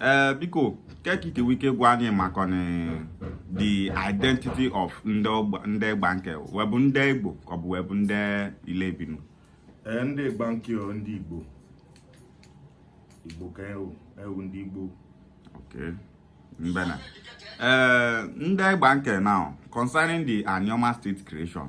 ee eh, biko ka ị ga-enwe ike gwa anyị maka the identity of ndị Igbanke we bụ ndị igbo ka ọ bụ we bụ ndị Ile Ibinu eh, ndị Igbanke ndị igbo igbo ka e wụ e wụ ndị igbo okay mbena ee eh, ndị Igbanke now concerning the Anioma state creation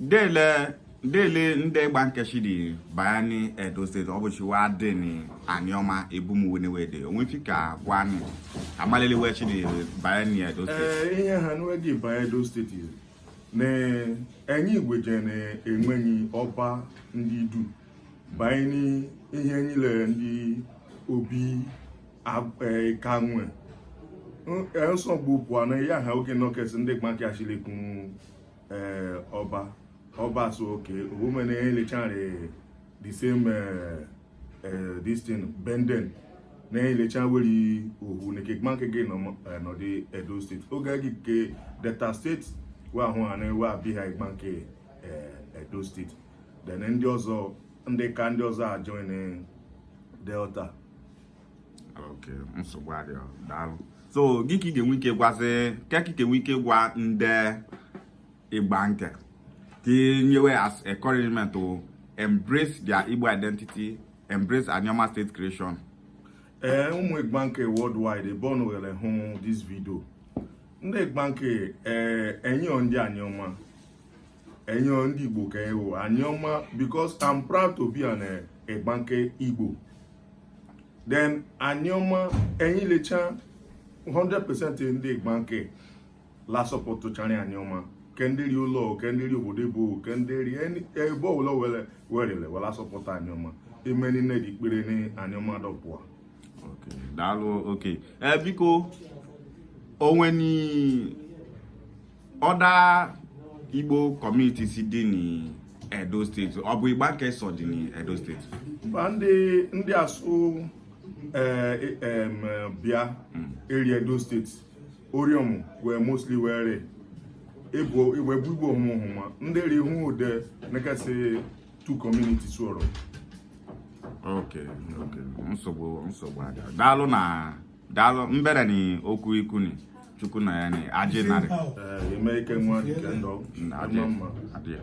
dele dele ndị Igbanke si dị baya ni edo steeti ọ bụchi wa dị ni aniọma ebe ụmụnne we dị o nwe ife ị ka-agwa anyị amalụ ele we si dị baya ni edo steeti ee ihe ha nụ we dị baye edo steeti na enyi igwe je na enweghị ọba ndị Idu banye n'ihe niile ndị obi ab- eh, ka nwe N- eh, nsogbu pụọ na ya ha oge nọkes ndị Igbanke achịlekwu ee ọba ọba so oke omume anyị lecha rị the same eh, eh, this thing Bendel anyị lecha weri ohu nke Igbanke ji nọdị edo steeti oge e ji kee delta steeti wa ahụ ha na-ewe abịa ha Igbanke edo steeti then ndị ọzọ ndị ka ndị ọzọ ajoin delta okay nsogbu adịghị daalụ so gị ka ị ga-enwe ike gwazi ka ka ị ga-enwe ike gwa ndị Igbanke ka nye we as encouragement to embrace their Igbo identity embrace Anioma state creation ee ụmụ Igbanke worldwide ebe ọ nụghere hụ this video ndị Igbanke ee enyi wụ ndị Anioma enyi wụ ndị Igbo ka e wụ Anioma because I'm proud to be an Igbanke Igbo then Anioma anyị lecha 100% ndị Igbanke la supportchara Anioma ke ndị rị ụlọ ke ndị rị obodo oyibo ke ndị rị ebe ọbụla we rị we ile we asupport Anioma ime niile dị ekpere Anioma dọpụa daalụ okay ee biko o nwe ni Other Igbo communities dị n'Edo steeti ọ bụ Igbanke sọ dị n'Edo steeti mba ndị ndị asụ eh, em, eh, bịa rị edo steeti Orhionmwon wee mostly were ịbụ igwe bụ igbo hụmụhụma ndị rị hụ ọ dị ka asị two communities ọrụ ok ok nsogbu nsogbu adịa daalụ na daalụ mbere na okwu i kwuni chukwu na ya ni ajị narị Eh, ime ike nwa nke ndụ. Ajị. Mma mma. Adị ya.